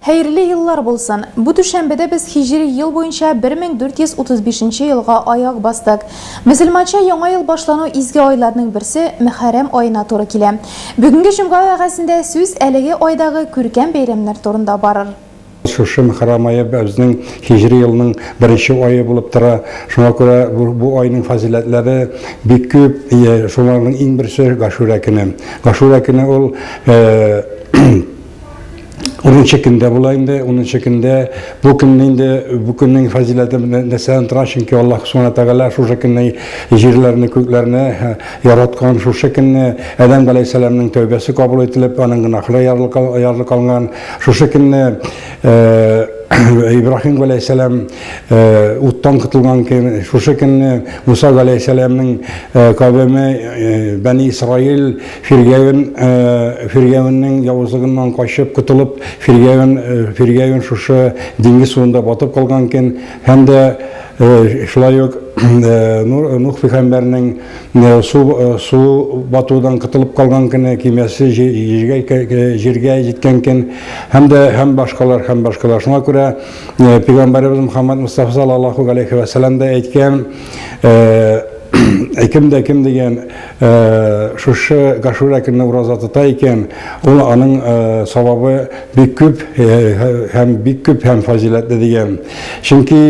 Хәерле еллар булсын! Бу түшәмбедә без һиҗри ел буенча 1435 елга аяк бастык. Мөселманча яңа ел башлану изге айларның берсе Мөхәррәм аена туры килә. Бүгенге җомга вәгазендә сүз әлеге айдагы күркәм бәйрәмнәр турында барыр. Шушы Мөхәррәм ае безнең һиҗри елның беренче ае булып тора. Шуңа күрә бу айның фазыйләтләре бик күп. Шуларның иң берсе Гашүрә көне. Гашүрә көне ул Унынчы көндә була инде, унынчы көндә бу көнне инде бу көннең фазиләте нәрсәдән тора, чөнки Аллаһ Субхана Тәгалә шушы көнне җирләрне, күкләрне яраткан, шушы көнне Адәм галәйһиссәламның тәүбәсе кабул ителеп, аның гөнаһлары ярылып алган, шушы көнне Ибрахим галәйһиссәлам уттан котылган көн, шушы көнне Муса галәйһиссәламның кавеме Бәни Исраил Фиргәвен, Фиргәвеннең явызлыгыннан качып котылып, Фиргәвен, Фиргәвен шушы диңгез суында батып калган икән, һәм дә шулай ук Нух пигамбәрнең су, су батудан котылып калган көне кимәсе җиргә, җиргә җиткән икән, һәм дә һәм башкалар, һәм башкалар. Шуңа күрә пигамбәребез Мөхәммәд Мостафа салаллаһу галәйһи вә сәлам дә әйткән, кем дә кем дигән, Шушы гашүрә көнне ураза тота икән, ул аның савабы бик күп һәм бик күп һәм фазиләтле дигән. Чөнки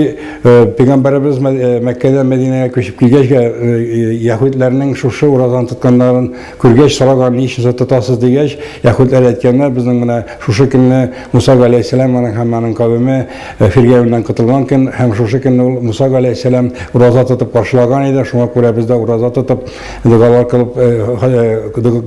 пәйгамбәребез Мәккәдән Мәдинәгә күчеп килгәч, яһүдләрнең шушы уразаны тотканнарын күргәч сораган, ни өчен сез тотасыз дигәч, яһүдләр әйткәннәр, безнең менә шушы көнне Муса галәйһиссәлам һәм аның кавеме, Ә фиргәвеннән котылган көн һәм шушы көнне ул Муса галәйһиссәлам ураза тотып каршылаган иде, шуңа күрә без дә ураза тотып, догалар кылып,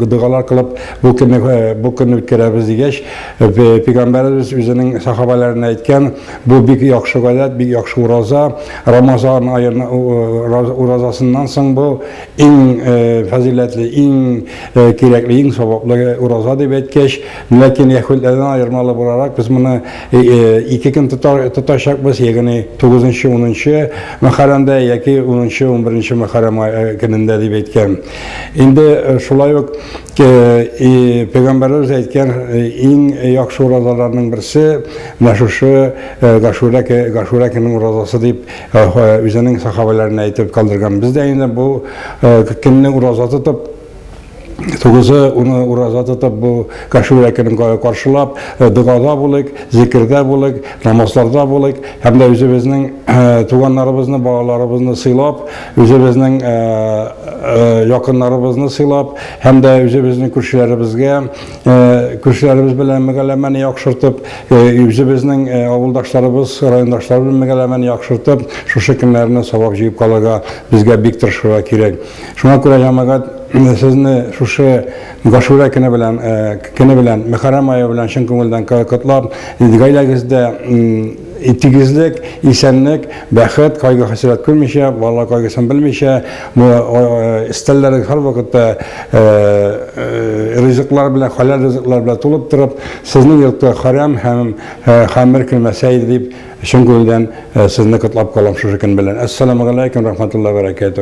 догалар кылып, бу көнне, бу көнне үткәрәбез, дигәч, Пәйгамбәребез үзенең сәхабәләренә әйткән, Бу бик яхшы гадәт, бик яхшы ураза, Рамазан аен уразасыннан соң бу иң фазыйләтле, иң кирәкле, иң саваплы ураза, дип әйткәч, ләкин яһүдләрдән аермалы буларак, без моны Ике көн тотачакбыз, ягъни 9нчы, 10нчы Мөхәррәмдә яки 10нчы, 11нче Мөхәррәм көнендә дип әйткән. Инде шулай ук Пәйгамбәребез әйткән иң яхшы уразаларның берсе менә шушы Гашүрә Гашүрә көненең уразасы дип үзенең сахабәләренә әйтеп калдырган. Без дә инде бу көнне ураза тотып Тугызы уны ураза тотып бу Гашура көнен каршылап, э, догада булыйк, зикердә булыйк, намазларда булыйк һәм дә үзебезнең э, туганнарыбызны, балаларыбызны сыйлап, үзебезнең э, якыннарыбызны сыйлап һәм дә үзебезнең күршеләребезгә, күршеләребез белән мөгәләмәне яхшыртып, үзебезнең авылдашларыбыз, райондашларыбыз белән мөгәләмәне яхшыртып, шушы көннәрне сабак җыеп калырга безгә бик тырышырга кирәк. Шуңа күрә җәмәгать сезне шушы Гашүрә көне белән, көне белән, Мөхәррәм ае белән чын күңелдән котлап, гаиләгездә тигезлек, исәнлек, бәхет, кайгы-хәсрәт күрмичә, балалар кайгысын белмичә, бу өстәлләрегез һәрвакытта ризыклар белән, хәләл ризыклар белән тулып торып, сезнең йортка хәрәм һәм хәмер кермәсә иде дип, чын күңелдән сезне котлап калам шушы көн белән. Әссәламегаләйкүм рәхмәтуллаһи вә бәрәкәтүһ.